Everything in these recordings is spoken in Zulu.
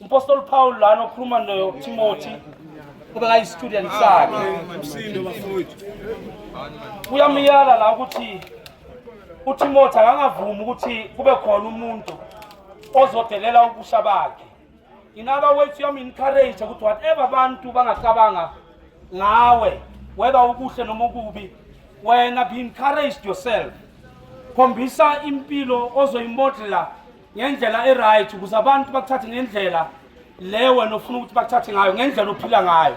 umpostoli Paul lana okhuluma noTimothy obekayistudent sakhe umsindo bafowethu uyamyala la ukuthi uTimothy akangavumi ukuthi kube khona umuntu ozodelela ubusha bakhe in other words uyamu-encourage ukuthi whatever abantu bangacabanga ngawe weba ukuhle noma okubi wena be encouraged yourself khombisa impilo ozoyimodela ngendlela e-right ukuze abantu bakuthathe ngendlela le wena ofuna ukuthi bakuthathe ngayo ngendlela ophila ngayo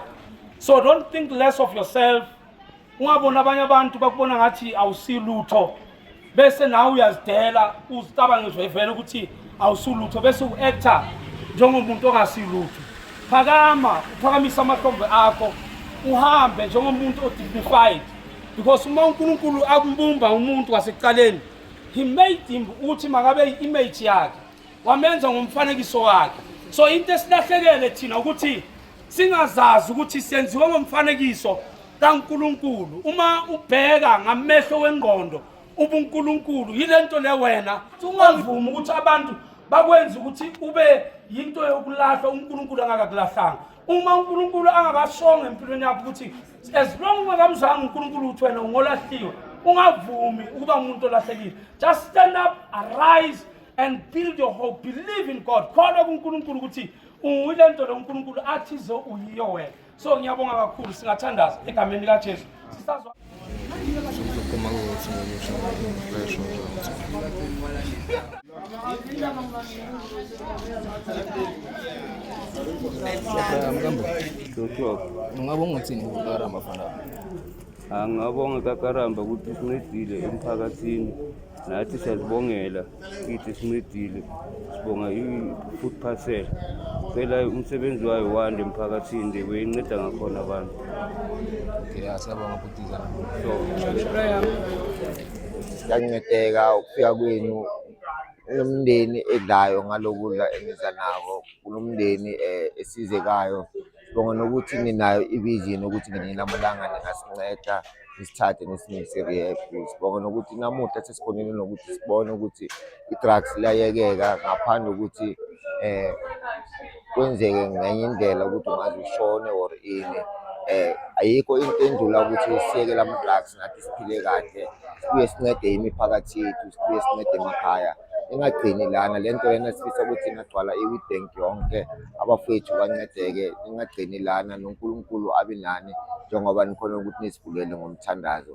so don't think less of yourself ungaboni abanye abantu bakubona ngathi awusilutho bese nawe uyazidela uzicabange vele ukuthi awusulutho bese u-actor njengomuntu ongasilutho phakama uphakamise amahlombe akho uhambe njengomuntu o-dignified because uma unkulunkulu akumbumba umuntu wasekuqaleni he made him ukuthi makabe i-image yakhe wamenza ngomfanekiso wakhe so into esilahlekele thina ukuthi singazazi ukuthi senziwe ngomfanekiso kaNkuluNkulu uma ubheka ngamehlo wengqondo ubuNkuluNkulu yile nto le wena ungavumi ukuthi abantu bakwenza ukuthi ube yinto yokulahla uNkuluNkulu angakakulahlanga uma uNkuluNkulu angakashonga empilweni yakho ukuthi as long ungakamzanga unkulunkulu ukuthi wena ungolahliwe ungavumi ukuba umuntu olahlekile just stand up arise and build your hope believe in god kholwa kunkulunkulu ukuthi uyile nto lo nkulunkulu athize uyiyo wena so ngiyabonga kakhulu singathandaza egameni likajesu sisazwa Como algo, señor, yo soy un Ungabonga ukuthini kukaramba fana? Angabonga kakaramba ukuthi sincedile emphakathini nathi siyazibongela kithi sincedile sibonga i-food parcel cela umsebenzi wayo wande emphakathini nje kuyinceda ngakhona abantu Okay, asiyabonga bhutiza. So, Siyancedeka ukufika kwenu kunomndeni edlayo ngalokudla eniza nako kunomndeni um eh, esizekayo bonga nokuthi ninayo i-vision ukuthi ngelinye lamalanga ningasinceda nisithathe nisinise rehab sibonga nokuthi namuhla sesikhonile nokuthi sibone ukuthi i-drugs liyayekeka ngaphandle ukuthi um kwenzeke ngenye indlela ukuthi ungaze ushone or ini eh ayikho into endlula ukuthi siyeke lama drugs nathi siphile kahle sibuye sincede imiphakathi yethu sibuye sincede emakhaya ingagcini lana le nto lena sifisa ukuthi ingagcwala i-witbank yonke abafowethu bancedeke ingagcini lana nonkulunkulu abe nani njengoba nikhona ukuthi nizivulele ngomthandazo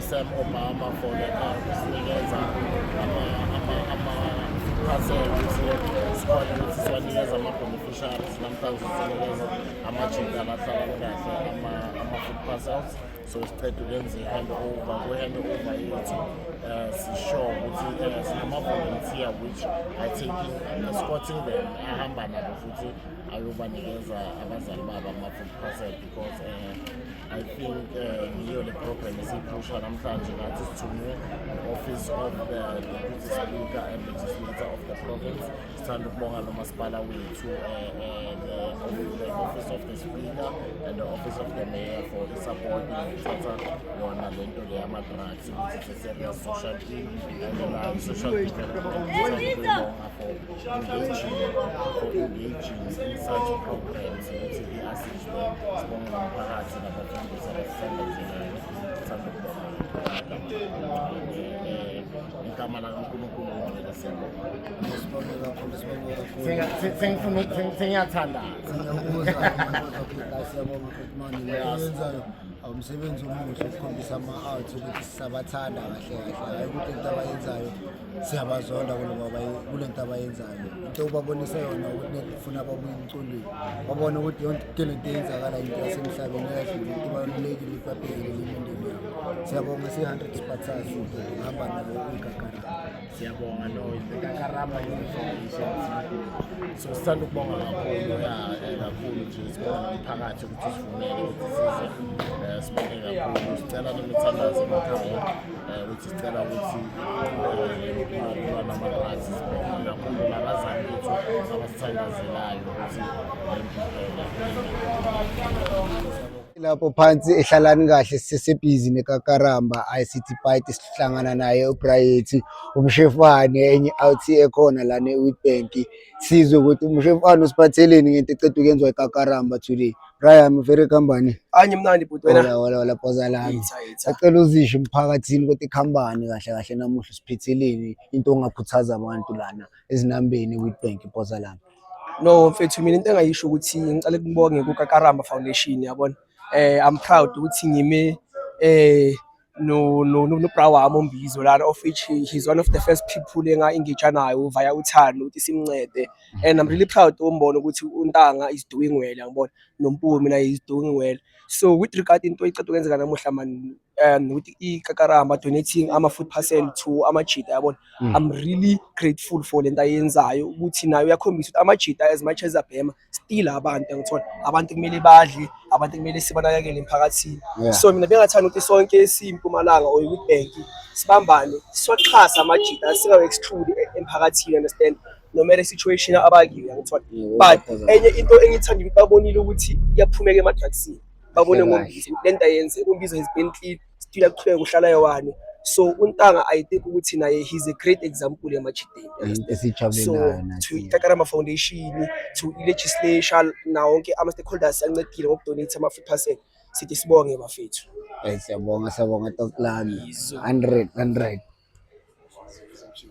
Sam Obama for the kusinikeza ama-parcel ukuthi sikwazi ukuthi siwanikeze ama-beneficiaries namhlanje sinikeza amajinda abahlala kahle ama-food parcels so siqeda ukwenza i-hand over kwi-hand over yethu um sisure ukuthi um sinama-volunteer which are taking escorting them ahamba nabo futhi ayobanikeza abazali babo ama-food parcel because um I think uh, yiyo le program esiyiphusha namhlanje ngathi sithunywe office of the deputy speaker and legislator of the province sithanda ukubonga lo masipala wethu uh, uh, the office of the speaker and the office of the mayor for the support ngithatha yona le nto le yama-drugs ukuthi it's a serious social thing and uh, social development for engaging in such programs ukuthi i-assist igama lakankulunkulu ongcwele siyabonga umsebenzi omuhle ukukhombisa ama-art ukuthi sisabathanda kahle kahle hayi ukuthi into abayenzayo siyabazonda kule nto abayenzayo into ubabonise yona ukuthi funa babuye emcondweni babone ukuthi yonke le nto eyenzakala into yasemhlabeni eyadlula into ibalulekile ukuthi babhekele imindeni yabo siyabonga si-hundred spartas hamba nabo kwigagarama siyabonga no igagarama so sithanda ukubonga kakhulu ya eh, kakhulu nje sibonga nomphakathi ukuthi sivumele ukuthi size eh, sibonge kakhulu sicela nomithandazo emakhaya eh, ukuthi sicela ukuthi ukulwa nama-drugs sibhekane kakhulu nabazali bethu abasithandazelayo ukuthi lapho phansi ehlalani kahle sisebhizi nekakaramba ICT Bite sihlangana naye uBright umshefane enye out ekhona la ne Witbank sizwe ukuthi umshefane usiphatheleni ngento eqedwe kenzwa ikakaramba today Brian uvele kambani. Anye mnandi bhuti wena. Wala wala wala phoza lami. Acela uzisho emphakathini ukuthi ikhambani kahle kahle namuhla siphitheleni into ongakhuthaza abantu lana ezinambeni with bank phoza lami. No mfethu mina into engayisho ukuthi ngicela kubonge kuka Karamba Foundation yabona. Eh I'm proud ukuthi ngime eh no no no bra wami ombizo lana of which he, he's one of the first people enga engage nayo via uthando ukuthi simncede and i'm really proud umbona ukuthi untanga is doing well ngibona nompumi mina is doing well so with regard into ecede kwenzeka namuhla man um with ikakaramba donating ama food parcel to amajita yabona mm. i'm really grateful for lento ayenzayo ukuthi nayo yakhombisa ukuthi amajita as much as abhema still abantu angithola abantu kumele badle abantu kumele sibanakekele emphakathini yeah. so mina bengathanda ukuthi sonke simpumalanga or youth bank sibambane siwaxhasa amajita singawe-exclude e-, emphakathini understand no matter situation abakiyo angithola but enye into engithanda ukuthi babonile ukuthi iyaphumeka emadrugsini babone ngombizo le nto ayenze umbizo has been clean still aqhubeka uhlala yewani so untanga i think ukuthi naye he's a great example yamajideni so to itakarama foundation to legislation nawo wonke ama-stakeholders ancedile ngokudonate ama-food parcel sithi sibonge bafethu eh, siyabonga siyabonga tokulami 100 100 Thank you.